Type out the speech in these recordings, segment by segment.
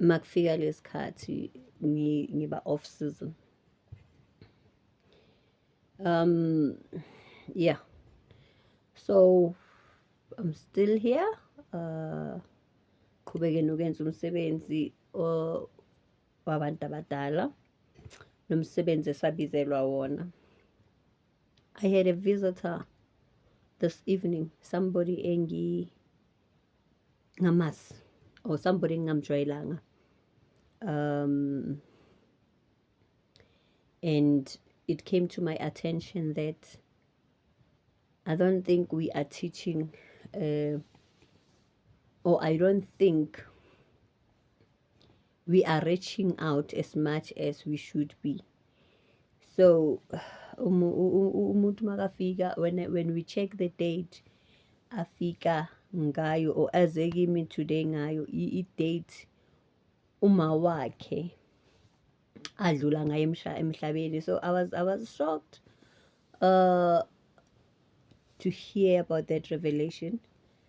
makufika lesikhathi ngiba off season um yeah so i'm still here uh qhubeke nokwenza umsebenzi wabantu abadala nomsebenzi esabizelwa wona i had a visitor this evening somebody engi ngamasi or somebody engingamjwayelanga um and it came to my attention that I don't think we are teaching uh, or I don't think we are reaching out as much as we should be so umuntu makafika when, when we check the date afika ngayo or aze kimi today ngayo i-date uma wakhe adlula ngayo emhlabeni so i was, I was shocked uh, to hear about that revelation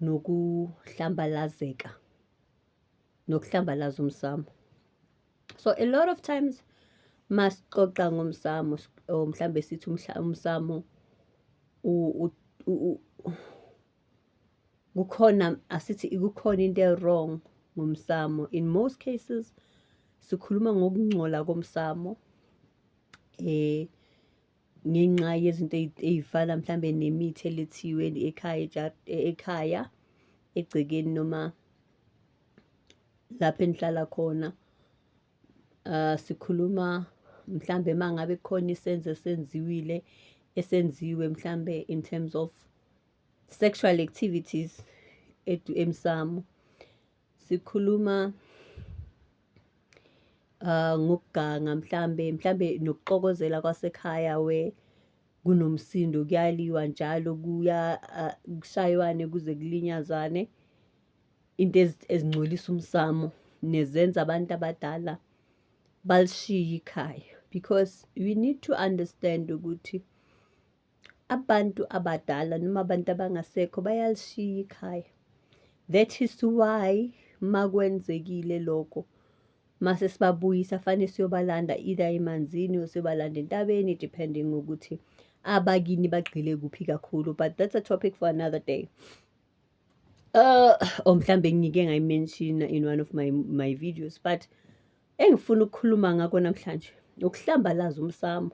nokuhlambalazeka nokuhlambalaza umsamo so a lot of times masixoxa ngomsamo or mhlambe sithi umsamo kukhona asithi ikukhona into ewrong ngomsamo in most cases sikhuluma ngokungcola komsamo eh ngenxa yezinto ey'fana mhlawumbe nemithi elethiwe ekhaya ekhaya egcekeni noma lapho enihlala khona uh, sikhuluma mhlambe uma ngabe khona isenzo esenziwile esenziwe mhlambe in terms of sexual activities emsamo sikhuluma uh ngokuganga mhlambe mhlambe nokuxokozela kwasekhaya we kunomsindo kuyaliwa njalo kuya uh, kushaywane kuze kulinyazwane into ezingcolisa umsamo nezenza abantu abadala balishiye ikhaya because we need to understand ukuthi Abantu abadala noma abantu abangasekho bayalishiya ikhaya. That is why makwenzekile lokho mase sibabuyisa fane siyobalanda either emanzini or siyobalanda entabeni depending ngokuthi abakini bagxile kuphi kakhulu but that's a topic for another day. Uh, or oh, mhlambe ngike ngayimenshina in one of my, my videos but engifuna ukukhuluma ngakho namhlanje ukuhlambalaza umsamo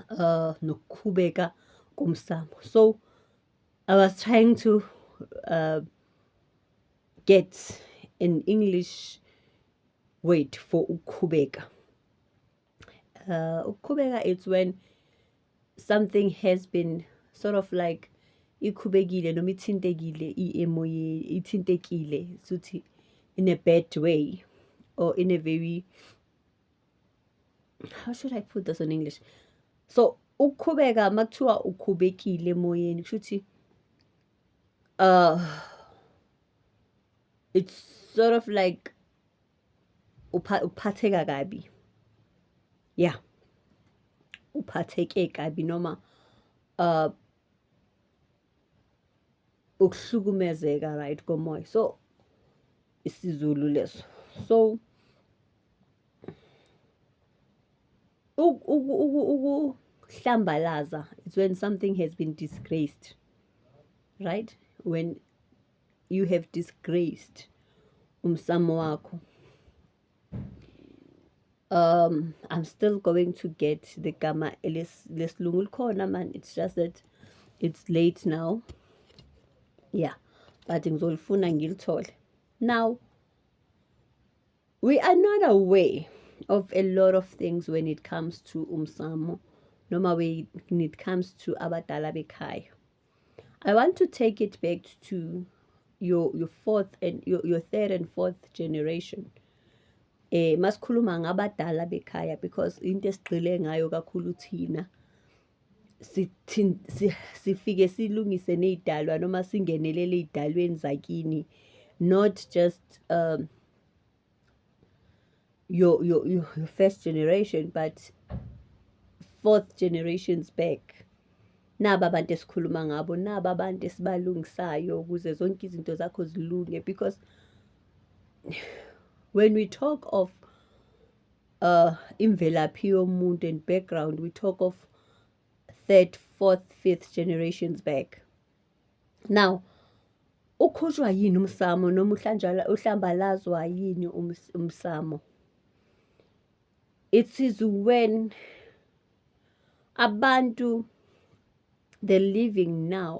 uh, nokukhubeka komsambo so i was trying to uh, get an english word for ukukhubeka uh, ukukhubeka it's when something has been sort of like ikhubekile noma ithintekile iemoye ithintekile suthi in a bad way or in a very how should i put this in english so ukukhubeka uma kuthiwa ukhubekile emoyeni kusho ukuthi uh it's sort of like uphatheka kabi yeah uphatheke kabi noma uh ukuhlukumezeka right komoya so isizulu leso so ukuhlambalaza it's when something has been disgraced right when you have disgraced umsamo wakho um i'm still going to get the gama lesilungu likhona man it's just that it's late now yeah but ngizolifuna ngilithole now we are not aware of a lot of things when it comes to umsamo noma when it comes to abadala bekhaya I want to take it back to your your fourth and your, your third and fourth generation eh masikhuluma ngabadala bekhaya because into esigqile ngayo kakhulu thina sifike silungise nezidalwa noma singenelele ezidalweni zakini not just um your, your, your first generation but fourth generations back naba abantu esikhuluma ngabo naba abantu esibalungisayo ukuze zonke izinto zakho zilunge because when we talk of uh, imvelaphi yomuntu and background we talk of third fourth fifth generations back Now, ukhutshwa yini umsamo noma uhlanjala uhlambalazwa yini umsamo? It is when abantu the living now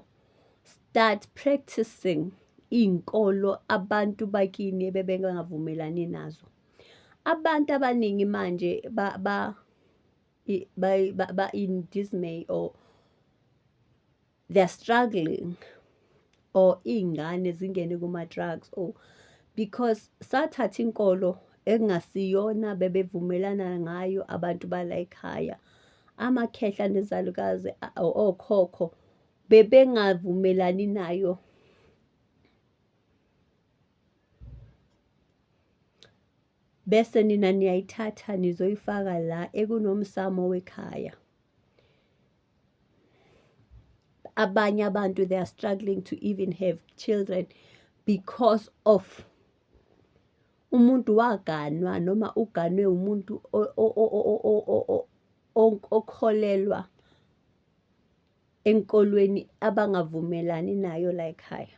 start practicing iy'nkolo abantu bakini ebebengavumelani nazo. Abantu abaningi manje ba ba ba ba in dismay or they are struggling or iy'ngane zingene kuma-drugs or because sathatha inkolo ekungasiyona bebevumelana ngayo abantu bala ekhaya amakhehla nezalukazi okhokho bebengavumelani nayo bese nina niyayithatha nizoyifaka la ekunomsamo wekhaya abanye abantu they are struggling to even have children because of umuntu waganwa noma uganwe umuntu okholelwa enkolweni abangavumelani nayo la ekhaya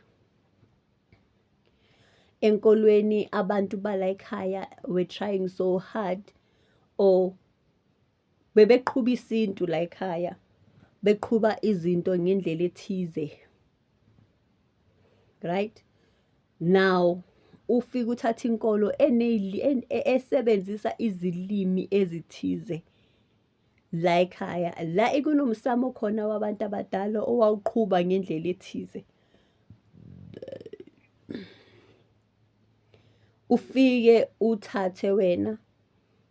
enkolweni abantu bala ekhaya were trying so hard or bebeqhuba isintu la ekhaya beqhuba izinto ngendlela ethize right now ufike uthatha inkolo esebenzisa izilimi ezithize la ekhaya la ikunomsamo khona wabantu abadala owawuqhuba ngendlela ethize ufike uthathe wena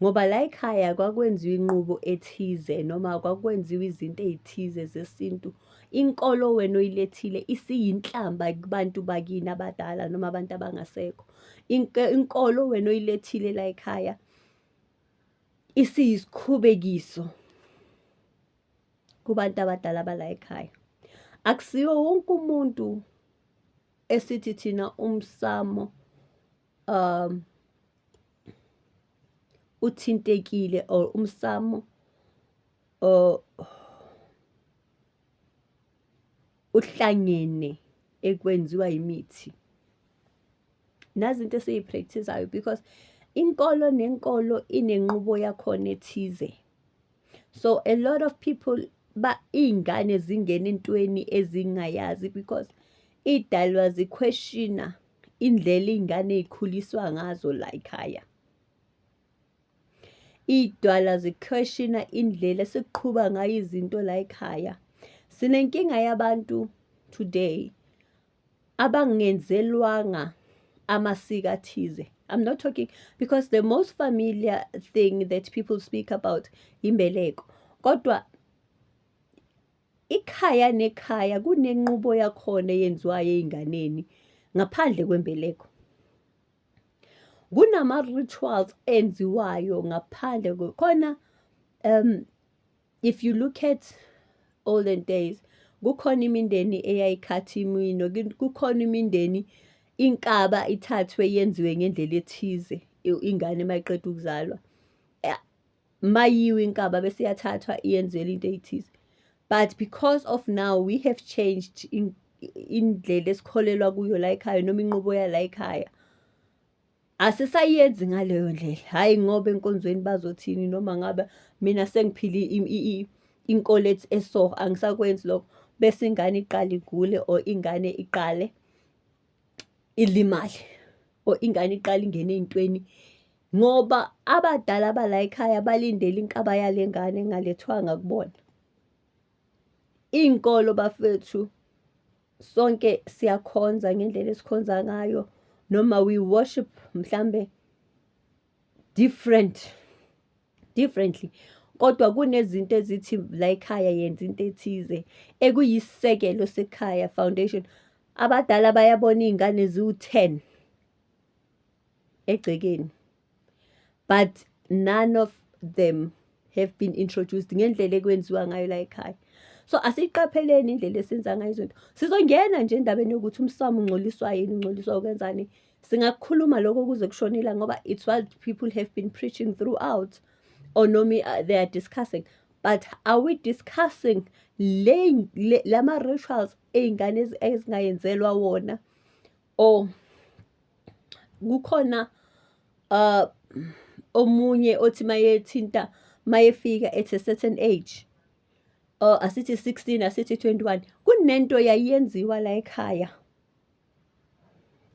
ngoba la ekhaya kwakwenziwa inqubo ethize noma kwakwenziwa izinto ey'thize zesintu. Inkolo wena oyilethile isiyinhlamba kubantu bakini abadala noma abantu abangasekho. Inkolo wena oyilethile la ekhaya isiyisikhubekiso kubantu abadala bala ekhaya. Akusiwo wonke umuntu esithi thina umsamo um uthintekile or umsamo or uhlangene ekwenziwa imithi nazi into esiyipractisayo because inkolo nenkolo inenqubo yakhona ethize so a lot of people ba iy'ngane zingena entweni ezingayazi because iy'dalwa ziquestiona indlela iy'ngane ey'khuliswa ngazo la yikhaya iy'dwala zikhweshina indlela esiqhuba ngayo izinto la yikhaya sinenkinga yabantu today abangenzelwanga amasiko athize I'm not talking because the most familiar thing that people speak about imbeleko kodwa Ikhaya nekhaya kunenqubo yakhona eyenziwayo ey'nganeni ngaphandle kwembeleko. Kunama-rituals enziwayo ngaphandle khona um if you look at olden days kukhona imindeni eyayikhathi imino kukhona imindeni inkaba ithathwe yenziwe ngendlela ethize ingane uma iqeda ukuzalwa mayiwe inkaba bese iyathathwa iyenzelwa into eyithize but because of now we have changed indlela esikholelwa kuyo la ekhaya noma inqubo yala ekhaya asisayenzi ngaleyo ndlela hhayi ngoba enkonzweni bazothini noma ngabe mina sengiphile inkolo ethi eso angisakwenzi lokho bese ingane iqale igule or ingane iqale ilimale or ingane iqale ingene ey'ntweni Ngoba abadala bala ekhaya balindele inkaba yale ngane engalethwanga kubona. Iy'nkolo bafethu sonke siyakhonza ngendlela esikhonza ngayo noma we worship mhlambe different differently kodwa kunezinto ezithi la ekhaya yenza into ethize ekuyisekelo sekhaya foundation abadala bayabona iy'ngane ziwu-ten egcekeni but none of them have been introduced ngendlela ekwenziwa ngayo la ekhaya so asiyiqapheleni indlela esenza ngayo izinto sizongena nje endabeni yokuthi umsamo ungcoliswa yini ungcoliswa ukwenzani singakukhuluma lokho kuze kushonela ngoba it's what people have been preaching throughout or no me uh, they are discussing but are we discussing lama-rituals ey'ngane ezingayenzelwa wona Oh kukhona uh omunye othi mayethinta mayefika at a certain age or oh, asithi 16 asithi 21 kunento yayenziwa la ekhaya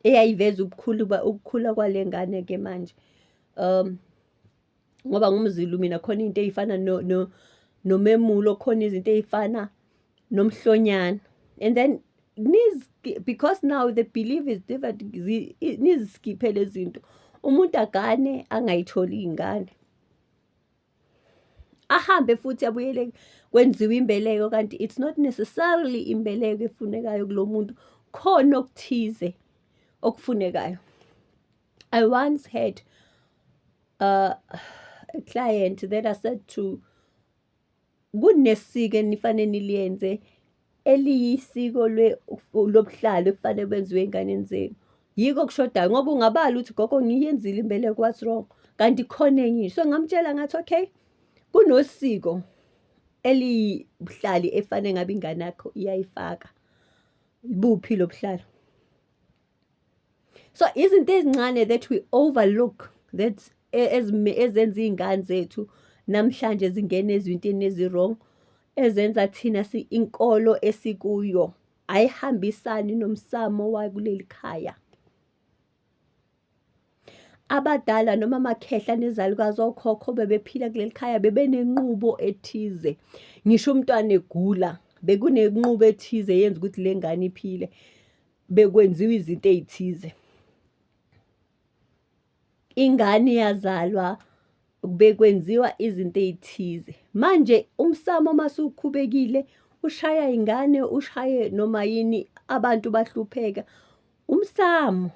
eyayiveza ubukhulu ubukhula kwalengane ke manje um ngoba ngumzilu mina khona into eyifana no no nomemulo khona izinto eyifana nomhlonyana and then because now the belief is different niziskiphe lezinto umuntu agane angayitholi ingane ahambe futhi abuyele kwenziwa imbeleko kanti it's not necessarily imbeleko efunekayo kulo muntu khona okuthize okufunekayo I once had uh, a client that I said to kunesiko enifanele niliyenze eliyisiko lobuhlalo ekufanele kwenziwe ey'nganeni zenu yiko kushodayo ngoba ungabala ukuthi gogo ngiyenzile imbeleko what's wrong kanti khona enye so ngamtshela ngathi okay kunosiko eliyibuhlali efanele ngabe ingane yakho iyayifaka buphi lobuhlalo so izinto ezincane that we overlook that e, ezenza iy'ngane zethu namhlanje zingena ezintweni ezi-wrong ezenza thina inkolo esikuyo ayihambisani nomsamo wakuleli khaya abadala noma amakhehla nezalukazi okhokho bebephila kuleli khaya bebenenqubo ethize ngisho umntwana egula bekunenqubo ethize yenza ukuthi le ngane iphile bekwenziwa izinto ey'thize ingane yazalwa bekwenziwa izinto ey'thize manje umsamo masukhubekile ushaya ingane ushaye noma yini abantu bahlupheka umsamo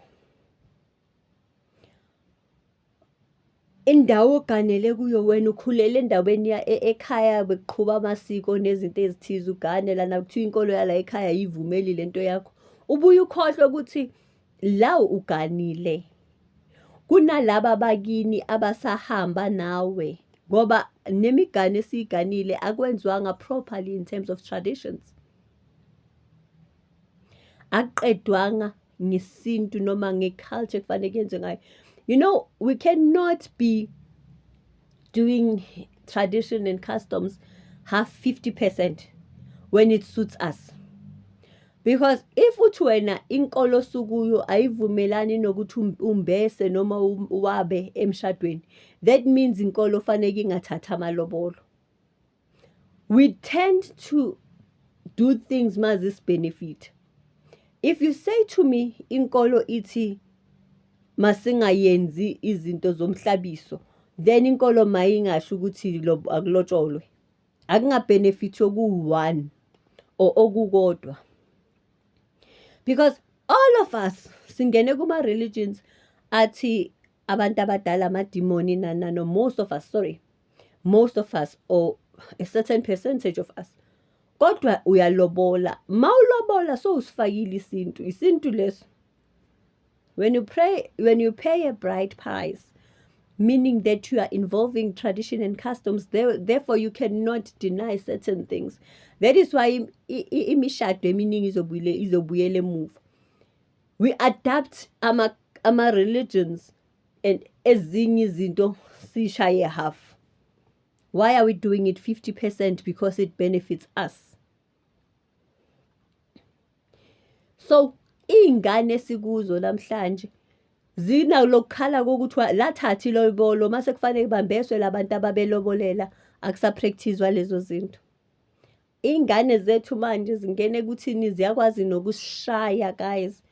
Indawo oganele kuyo wena ukhulele endaweni ekhaya bekuqhuba amasiko nezinto ezithize ugane lana kuthiwa inkolo yala ekhaya ayivumeli le nto yakho. Ubuye ukhohlwe ukuthi la uganile kunalaba bakini abasahamba nawe ngoba nemigane esiyiganile akwenzwanga properly in terms of traditions. Akuqedwanga ngesintu noma ngeculture kufanele kuyenzwe ngayo you know we cannot be doing tradition and customs half 50 percent when it suits us because if uthi wena inkolo sukuyo ayivumelani nokuthi um, umbese noma um, wabe emshadweni that means inkolo fanele ingathatha amalobolo we tend to do things mazis benefit if you say to me inkolo ithi masingayenzi izinto zomhlabiso then inkolo mayingasho ukuthi akulotsholwe akungabenefit okuwu-one or okukodwa because all of us singene kuma-religions athi abantu abadala amadimoni na na no most of us sorry most of us or a certain percentage of us kodwa uyalobola ma ulobola so usifakile isintu isintu leso when you pray when you pay a bright price meaning that you are involving tradition and customs there, therefore you cannot deny certain things that is why imishado eminingi izobuyele izobuyele emuva we adapt ama ama religions and ezinye izinto sishaye half why are we doing it 50% because it benefits us so iy'ngane esikuzo namhlanje zinalokukhala kokuthiwa lathathi lobolo mase kufanele kubambeswe labantu ababelobolela akusapractizwa lezo zinto Iy'ngane zethu manje zingene kuthini ziyakwazi nokusishaya guys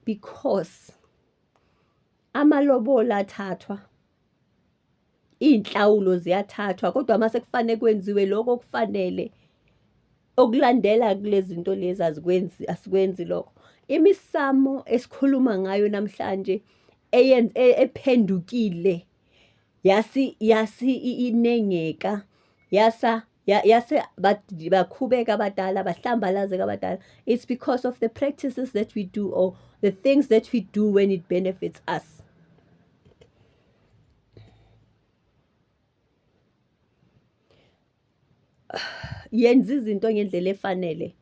because amalobola athathwa iy'nhlawulo ziyathathwa kodwa uma sekufanele kwenziwe lokho okufanele okulandela kule zinto lezi azikwenzi asikwenzi lokho imisamo esikhuluma ngayo namhlanje e, ephendukile yasi yasi inengeka yasa yase bakhubeka abadala bahlambalazeka abadala it's because of the practices that we do or the things that we do when it benefits us yenza izinto ngendlela efanele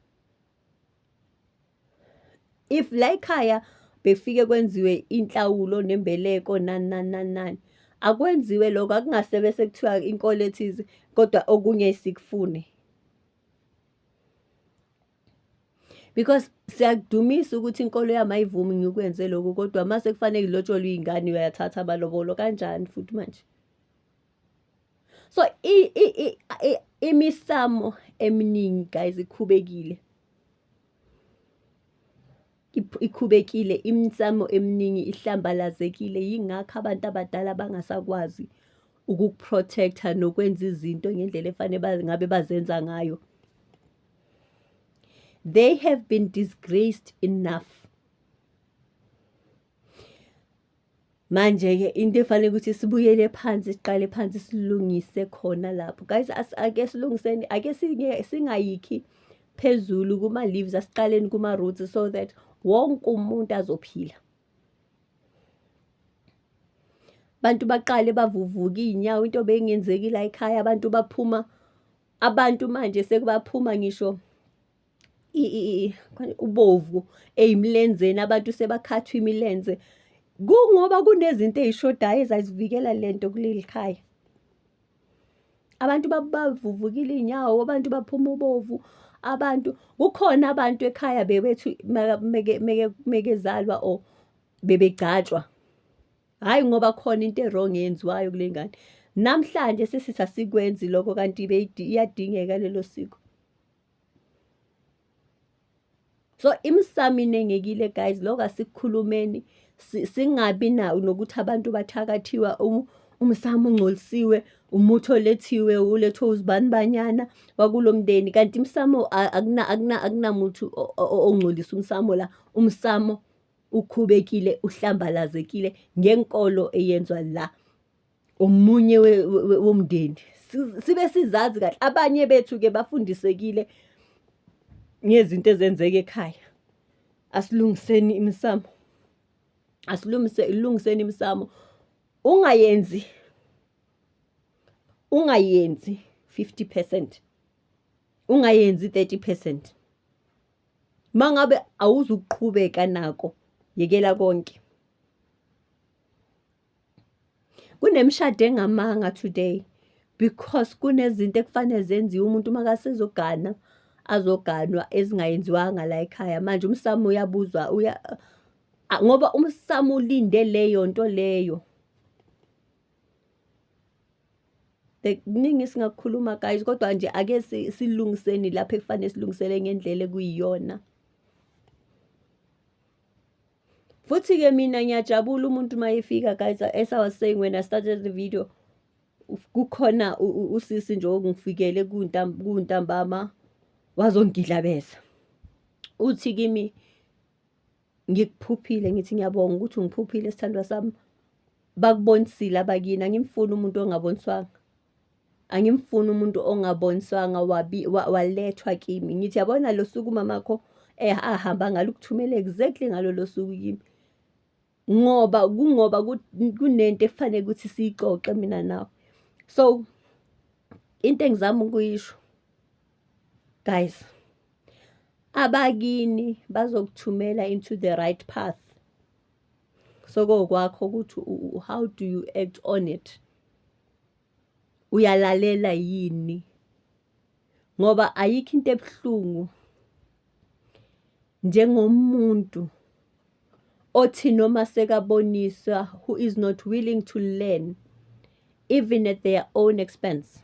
if la ekhaya bekufike kwenziwe inhlawulo nembeleko nani nani nani nani akwenziwe lokho akungase bese kuthiwa inkolo ethize kodwa okunye sikufune because siyakudumisa ukuthi inkolo yami ayivumi ngikwenze lokho kodwa uma sekufanele ngilotsholwe iy'ngane uyathatha amalobolo kanjani futhi manje so imisamo eminingi guys ikhubekile ikhubekile imisamo eminingi ihlambalazekile yingakho abantu abadala bangasakwazi ukukuprotecta nokwenza izinto ngendlela efanele ngabe bazenza ngayo they have been disgraced enough Manje-ke into efanele ukuthi sibuyele phansi siqale phansi silungise khona lapho. Guys ake silungiseni ake singayikhi phezulu kuma-leaves asiqaleni kuma-roots so that wonke umuntu azophila. Abantu baqale bavuvuka iy'nyawo into beyingenzeki la ekhaya abantu baphuma abantu manje sekubaphuma ngisho ubovu eyimlenzeni abantu sebakhathwa imilenze kungoba kunezinto eyishodayo ezazivikela lento kuleli khaya abantu babavuvukile iy'nyawo abantu baphuma ubovu abantu kukhona abantu ekhaya bebethu mekezalwa or bebegcatshwa hhayi ngoba khona into erong eyenziwayo kule ngane namhlanje sesithi asikwenzi lokho kanti iyadingeka lelo siko so imisamo inengekile guys lokho asikukhulumeni singabi nawo nokuthi abantu bathakathiwa umsamo ungcolisiwe umuthi olethiwe ulethwe uzibani banyana wakulo mndeni kanti imsamo akunamuthi ongcolisa umsamo la umsamo ukhubekile uhlambalazekile ngenkolo eyenzwa la omunye womndeni sibe sizazi kahle abanye bethu-ke bafundisekile ngezinto ezenzeka ekhaya asilungiseni imisamo asilungiseni imisamo ungayenzi ungayenzi 50 percent ungayenzi 30 percent uma ngabe awuzukuqhubeka nako yekela konke kunemishado engamanga today because kunezinto ekufanele zenziwe umuntu uma kasezogana azoganwa ezingayenziwanga la ekhaya manje umsamo uyabuzwa uya ngoba umsamo ulinde leyo nto leyo kuningi singakukhuluma guys kodwa nje ake silungiseni lapho ekufanele silungisele ngendlela ekuyiyona futhi ke mina ngiyajabula umuntu uma efika guys as i was saying when i started the video kukhona usisi nje ongifikele kuntambama wazongidlabeza uthi kimi ngikuphuphile ngithi ngiyabonga ukuthi ungiphuphile sithandwa sami bakubonisile abakini angimfuni umuntu ongaboniswanga angimfuni umuntu ongaboniswanga wabi walethwa kimi ngithi yabona lo suku umamakho eh, ahamba ngalo ukuthumela exactly ngalo lo suku kimi ngoba kungoba kunento efanele ukuthi siyixoxe mina nawe so into engizama ukuyisho guys abakini bazokuthumela into the right path Sokokwakho ukuthi how do you act on it. Uyalalela yini? Ngoba ayikho into ebuhlungu njengomuntu othi noma sekaboniswa who is not willing to learn even at their own expense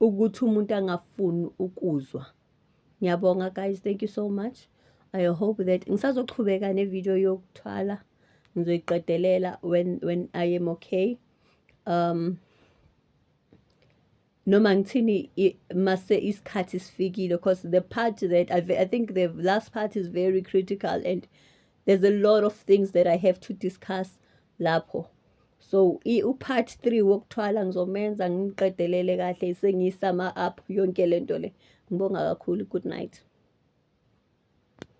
ukuthi umuntu angafuni ukuzwa ngiyabonga guys thank you so much i hope that ngisazoqhubeka nevideo yokuthwala ngizoyiqedelela when, when i am okay um noma ngithini mase isikhathi sifikile because the part that I, I think the last part is very critical and there's a lot of things that i have to discuss lapho so upart three wokuthwala ngizomenza ngiqedelele kahle sengiyisama up yonke le nto le ngibonga kakhulu good night